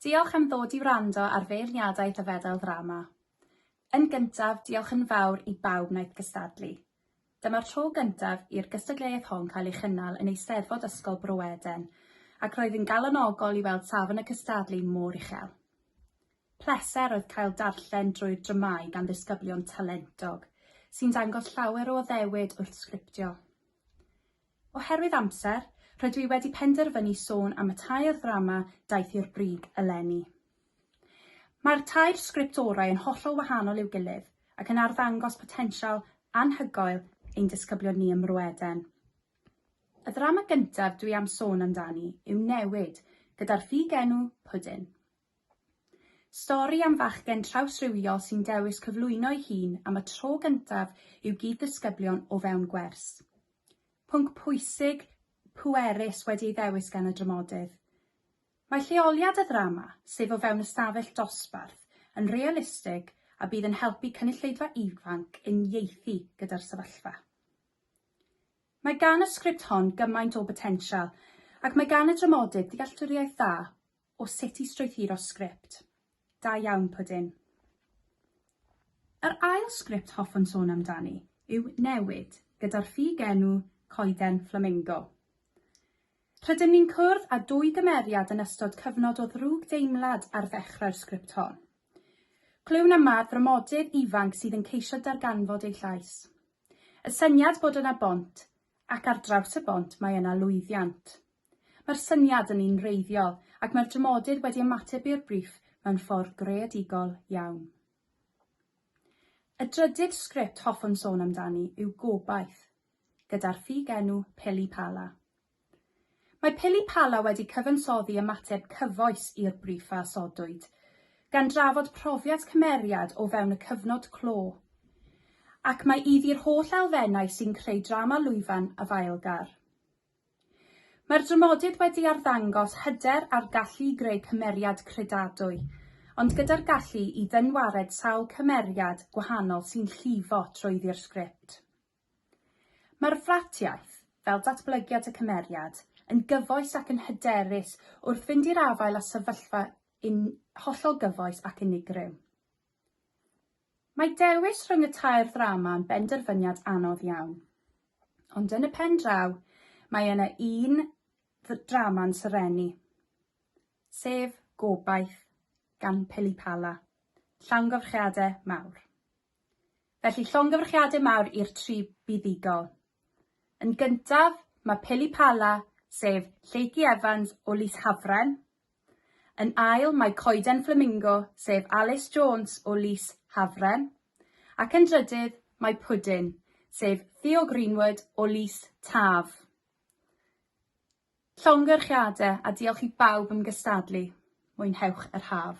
Diolch am ddod i wrando ar feirniadaeth y Fedal Ddrama. Yn gyntaf, diolch yn fawr i bawb wnaeth gystadlu. Dyma'r tro gyntaf i'r gystadleuaeth hon cael ei chynnal yn Eisteddfod Ysgol Bro Eden, ac roedd yn galonogol i weld safon y cystadlu mor uchel. Pleser oedd cael darllen drwy'r dramâu gan ddisgyblion talentog, sy'n dangos llawer o addewid wrth sgriptio. Oherwydd amser, rydw i wedi penderfynu sôn am y tair ddrama daeth i'r brig eleni. Mae'r tair sgript orau yn hollol wahanol i'w gilydd ac yn arddangos potensial anhygoel ein disgyblion ni ym Mro Eden. Y ddrama gyntaf dwi am sôn amdani yw Newid, gyda'r ffug enw Pwdin. Stori am fachgen trawsrhywiol sy'n dewis cyflwyno'i hun am y tro gyntaf i'w gyd-ddisgyblion o fewn gwers. Pwnc pwysig, pwerus wedi ei ddewis gan y dramodydd. Mae lleoliad y ddrama, sef o fewn ystafell dosbarth, yn realistig a bydd yn helpu cynulleidfa ifanc uniaethu gyda'r sefyllfa. Mae gan y sgript hon gymaint o botensial ac mae gan y dramodydd ddealltwriaeth dda o sut i strwythuro sgript. Da iawn, Pwdin. Yr ail sgript hoffwn sôn amdani yw Newid, gyda'r ffug enw Coeden Fflamingo. Rydym ni'n cwrdd â dwy gymeriad yn ystod cyfnod o ddrwg deimlad ar ddechrau'r sgript hon. Clywn am mad framodydd ifanc sydd yn ceisio darganfod ei llais. Y syniad bod yna bont, ac ar draws y bont mae yna lwyddiant. Mae'r syniad yn un wreiddiol ac mae'r dramodydd wedi ymateb i'r briff mewn ffordd greadigol iawn. Y drydydd sgript hoffwn sôn amdani yw Gobaith, gyda'r ffug-enw Pili Pala. Mae Pili Pala wedi cyfansoddi ymateb cyfoes i'r briff a osodwyd, gan drafod profiad cymeriad o fewn y cyfnod clo, ac mae iddi'r holl elfennau sy'n creu drama lwyfan afaelgar. Mae'r dramodydd wedi arddangos hyder a'r gallu i greu cymeriad credadwy, ond gyda'r gallu i ddynwared sawl cymeriad gwahanol sy'n llifo trwyddi'r sgript. Mae'r fratiaith, fel datblygiad y cymeriad, yn gyfoes ac yn hyderus wrth fynd i'r afael â sefyllfa yn hollol gyfoes ac unigryw. Mae dewis rhwng y tair ddrama yn benderfyniad anodd iawn. Ond yn y pen draw, mae yna un ddrama'n serennu, sef Gobaith gan Pili Pala, Llongyfarchiadau mawr. Felly llongyfarchiadau mawr i'r tri buddugol. Yn gyntaf, mae Pili Pala, sef Lleucu Evans o Lys Hafren, Yn ail mae coeden fflamingo sef Alys Jones o Lys Hafren ac yn drydydd mae pwdin sef Theo Greenwood o Lys Taf. Llongyfarchiadau a diolch i bawb am gystadlu. Mwynhewch yr haf.